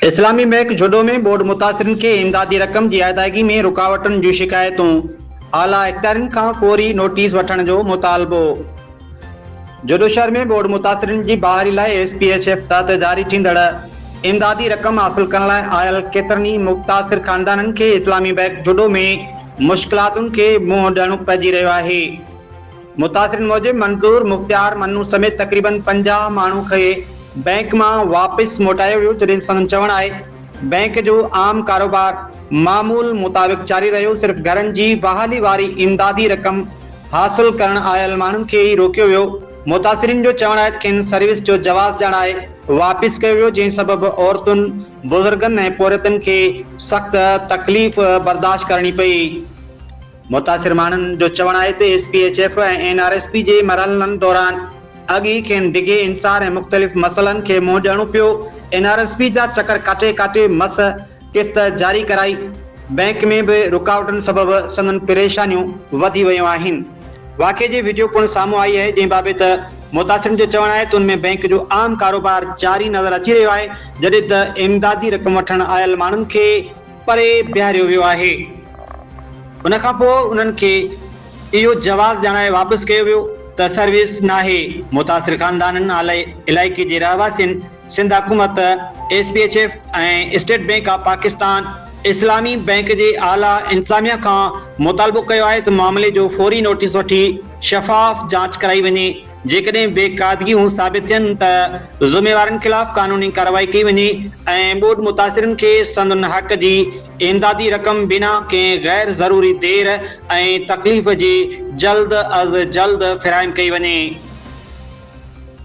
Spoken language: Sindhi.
اسلامي بئنڪ جھوڏو ۾ ٻوڏ متاثرن کي امدادي رقم جي ادائگي ۾ رڪاوٽن جون شڪايتون، اعليٰ اختيارين کان فوري نوٽيس وٺڻ جو مطالبو. جھوڏو شھر ۾ ٻوڏ متاثرن جي بحالي لاء ايس پي ايڇ ايف تحت جاري ٿيندڙ امدادي رقم حاصل ڪرڻ لاء آيل ڪيترن ئي متاثر خاندانن کي اسلامي بئنڪ جھوڏو ۾ مشڪلاتن کي منهن ڏيڻو پئجي رهيو آهي. متاثرين موجب منظور، مختيار، منو سميت تقريبن پنجاهه ماڻهو کي بئنڪ مان واپس موٽايو ويو جڏهن سندن چوڻ آهي بئنڪ جو عام ڪاروبار معمول مطابق جاري رهيو صرف گهرن جي بحالي واري امدادي رقم حاصل ڪرڻ آيل ماڻهن کي ئي روڪيو ويو متاثرين جو چوڻ آهي ته کين سروس جو جواز ڏيڻ آهي واپس ڪيو ويو جنهن سبب عورتن بزرگن ۽ پورهيتن کي سخت تڪليف برداشت ڪرڻي پئي. متاثر ماڻهن جو چوڻ آهي ته S P H F ۽ N R S P جي مرحلن دوران اڳ ئي کين ڊگهي انتظار ۽ مختلف مسئلن کي منهن ڏيڻو پيو، اين آر ايس پي جا چڪر ڪاٽي ڪاٽي مس قسط جاري ڪرائي، بئنڪ ۾ به رڪاوٽن سبب سندن پريشانيون وڌي ويون آهن، واقعي جي وڊيو پڻ سامهون آئي آهي جنهن بابت متاثرن جو چوڻ آهي ته ان ۾ بئنڪ جو عام ڪاروبار جاري نظر اچي رهيو آهي جڏهن ته امدادي رقم وٺڻ آيل ماڻهن کي پري بيهاريو ويو آهي. ان کان پوء انهن کي اهو جواز ڄاڻائي واپس ڪيو ويو ته سروس ناهي، متاثر خاندانن اعليٰ علائقي جي رهواسين سنڌ حڪومت، S P H F ۽ state bank of Pakistan اسلامي بئنڪ جي اعليٰ انتظاميا کان مطالبو ڪيو آهي ته معاملي جو فوري نوٽيس وٺي شفاف جاچ ڪرائي وڃي. جيڪڏهن بي قاعدگيون ثابت ٿين ته ذميوارن خلاف قانوني ڪارروائي ڪئي وڃي ۽ ٻوڏ متاثرن کي سندن حق جي امدادي رقم بنا ڪنهن غير ضروري دير ۽ تڪليف جي جلد از جلد فراهم ڪئي وڃي.